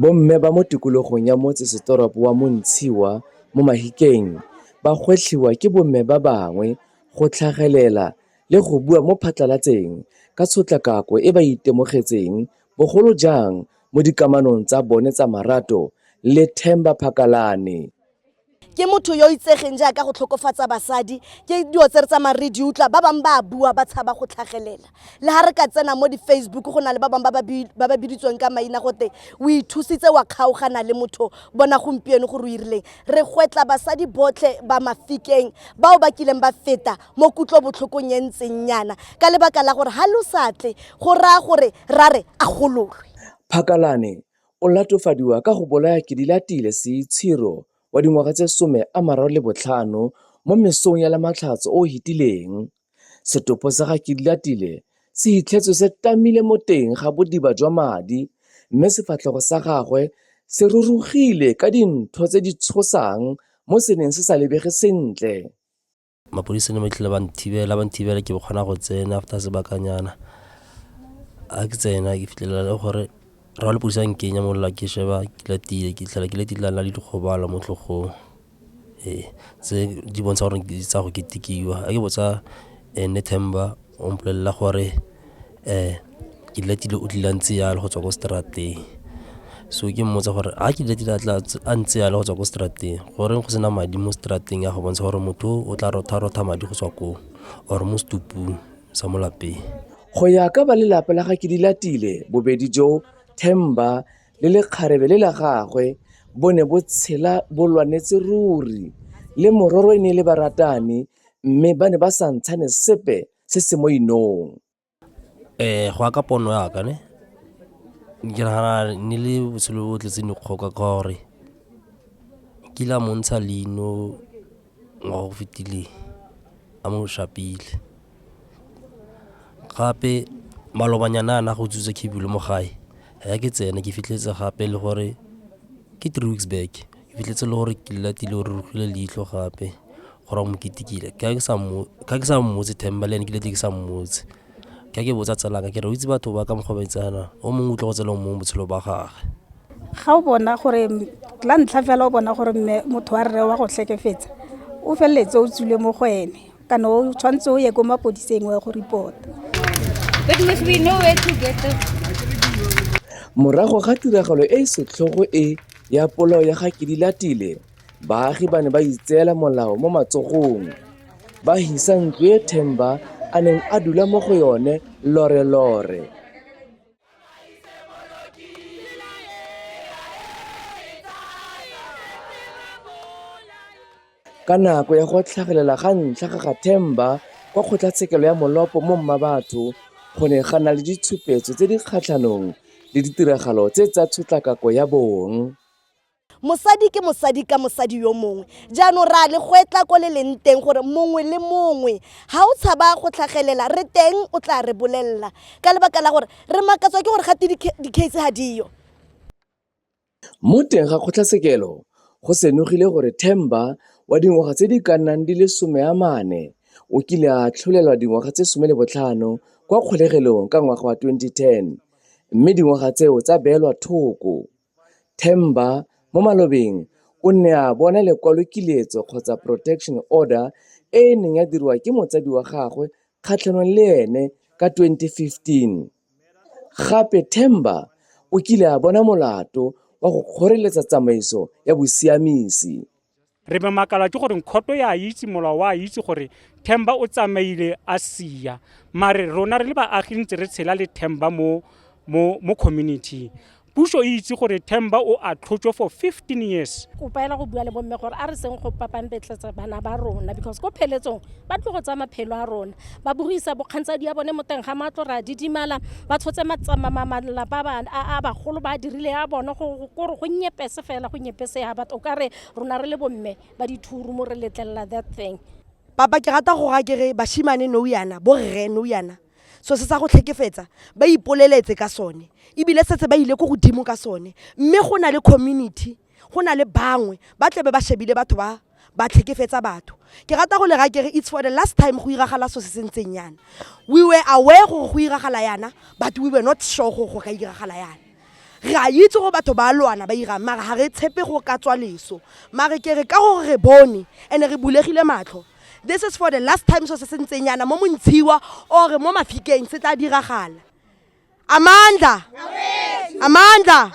Bomme ba mo tikologong ya motse setoropo wa Montshiwa mo Mahikeng ba gwetlhiwa ke bomme ba bangwe go tlhagelela le go bua mo phatlalatseng ka tshotlakako e ba e itemogetseng bogolo jang mo dikamanong tsa bone tsa marato le Themba Phakalane. ke motho yo itsegeng jaaka go tlhokofatsa basadi ke dilo tse re tsamaya re di utlwa ba bangwe ba bua ba tshaba go tlhagelela le ga re ka tsena mo di-facebook go na le ba bangwe ba ba biditsweng ka maina gote o ithusitse wa kgaogana le motho bona gompieno gore o irileng re gwetla basadi botlhe ba mafikeng bao ba kileng ba feta mo kutlo botlhokong e ntseng nyana ka lebaka la gore ga lo satle go raya gore ra re a gololwe phakalane O latofadiwa ka go bolaya Kedilatile Seitshiro wa dingwaga tse some a mararo le botlhano mo mesong ya Lamatlhatso o o hetileng. Setopo sa ga Kedilatile se hitlhetswe se tamile mo teng ga bodiba jwa madi mme sefatlhego sa gagwe se rurugile ka dintho tse di tshosang mo se neng se sa lebege sentle. mapodisa ne matlhile ba nthibela ba nthibela ke kgona go tsena after sebakanyana a ke tsena ke fitlhelela le gore ra le pusa nkenya mo la ke sheba ke la tile ke tlhela ke le tile la le dikgobalo mo tlhogong ee tse di bontsha gore tsa go ketikiwa a ke botsa ene themba o mpolelela gore um ke letile o tlile a ntse yalo go tswa ko strateng so ke mmotsa gore a ke letile a ntse yalo go tswa ko strateng goreng go sena madi mo strateng ya go bontsha gore motho o tla rotha rotha madi go tswa koo or mo setupung sa mo lapeng go ya ka ba lelapa la ga ke di latile bobedi jo themba le lekgarebe le la gagwe bo ne bo tshela bo lwanetse ruri le mororo e ne e le baratani mme ba ne ba sa ntshane sepe se se mo inong um go ya ka pono yaka ne ke nagana ne le botshelo bo tletseng dikgoka ka gore kile a montsha leino ngwa go fetileng a mo shapile gape malobanyana a na go tsutsa khebule mo gae ya ke tsena ke fitlhetse gape le gore ke three weeks back ebile tse le gore ke latile gore re utlwile leitlho gape gore mo ketekile ka ke sa mmo- ka ke sa mmotse themba le ene ke lete ke sa mmotse ka ke botsa tsalaka ke re o itse batho ba ka mokgwa ba itsana o mongwe utlwa go tsela o mongwe botshelo ba gage ga o bona gore m- la ntlha fela o bona gore mme motho wa rre wa go tlhekefetsa o feleletse o tswile mo go ene kana o tshwanetse o ye ko mapodiseng wa go report Morago ga tiragalo e e setlhogo e ya polao ya ga Kedilatile, baagi ba ne ba itseela molao mo matsogong, ba hisa ntlo e Themba a neng a dula mo go yone lore-lore. Ka nako ya go tlhagelela ga ntlha ga ga Themba kwa kgotlatshekelo ya Molopo mo Mmabatho go ne ga na le ditshupetso tse di kgatlhanong le ditiragalo tse tsa tshotlakako ya bong. Mosadi ke mosadi ka mosadi yo mongwe. Jaanong re a le gwetla ko le leng teng gore mongwe le mongwe ga o tshaba go tlhagelela re teng o tla re bolelela ka lebaka la gore re makatswa ke gore gate di-case ga diyo. Mo teng ga kgotlatshekelo go senogile gore Themba wa dingwaga tse di ka nnang di le 40 o kile a atlholelwa dingwaga tse 15 kwa kgolegelong ka ngwaga wa 2010 mme dingwaga tseo tsa beelwa thoko. Themba mo malobeng o ne a bona lekwalokiletso kgotsa protection order e e neng ya diriwa ke motsadi wa gagwe kgatlhanong le ene ka 2015. Gape Themba o kile a bona molato wa go kgoreletsa tsamaiso ya bosiamisi. Re mamakalwa ke gore Nkhoto ya itse molao wa itse gore Themba o tsamaile a sia. Mare rona re le baagi ntse re tshela le Themba mo mo mo community. Puso e itse gore Themba o a tlhotšwe for 15 years. kopa ela go bua le bomme gore a re seng go papampetletsa bana ba rona because ko pheletsong ba tlo go tsaya maphelo a rona ba bogisa bokgantsadi ya bone mo teng ga matlo re a didimala ba tshotse malapa a bagolo ba dirile ya bone kore go nyepese fela go nyepese ya batho o ka re rona re le bomme ba dithuru mo re letlelela that thing papa ke rata go ga kere bashimane nou yana borre nou yana so se sa go tlhekefetsa ba ipoleletse ka sone ebile setse ba ile ko godimo ka sone mme go na le community go na le bangwe ba tlebe ba shebile batho ba ba tlhekefetsa batho ke rata go le ra kere it's for the last time go iragala so se se ntseng yana we were aware gore go iragala yana but we were not sure gore go ka iragala yana Re a itse gore batho ba a lwana ba irang mara ga re tshepe go ka tswa leso mare ke re ka gore re bone and re bulegile matlho this is for the last time so se se ntseng yana mo montshiwa or mo mafikeng se tla diragala amandla amandla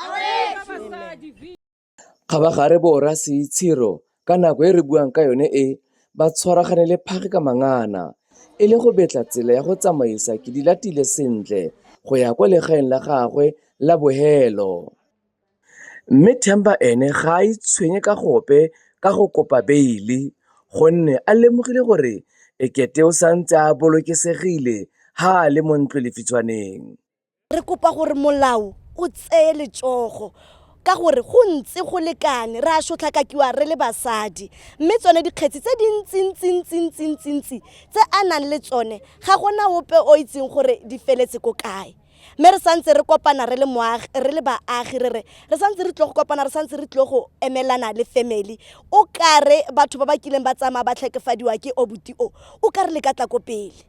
Kgabagare bo ra Seitshero ka nako e re buang ka yone e ba tshwaragane le phage ka mangana e le go betla tsela ya go tsamaisa Kedilatile sentle go ya kwa legaeng la gagwe la bohelo. Mme Themba ene ga a itshwenye ka gope ka go kopa beile gonne a lemogile gore ekete o santse a bolokesegile ha a le mo ntlolefitshwaneng. re kopa gore molao o tseye letsogo ka gore go ntse go lekane re a sotlhakakiwa re le basadi mme tsone dikgetsi tse dintsintsintsintsintsintsintsi tse a nang le tsone ga gona ope o itseng gore di feletse ko kae mme re santse re kopana re le moagi re le baagi re re re santse re tlo go kopana re santse re tlo go emelana le family o kare batho ba ba kileng ba tsamaya ba tlhekefadiwa ke obuti o o kare le ka tla ko pele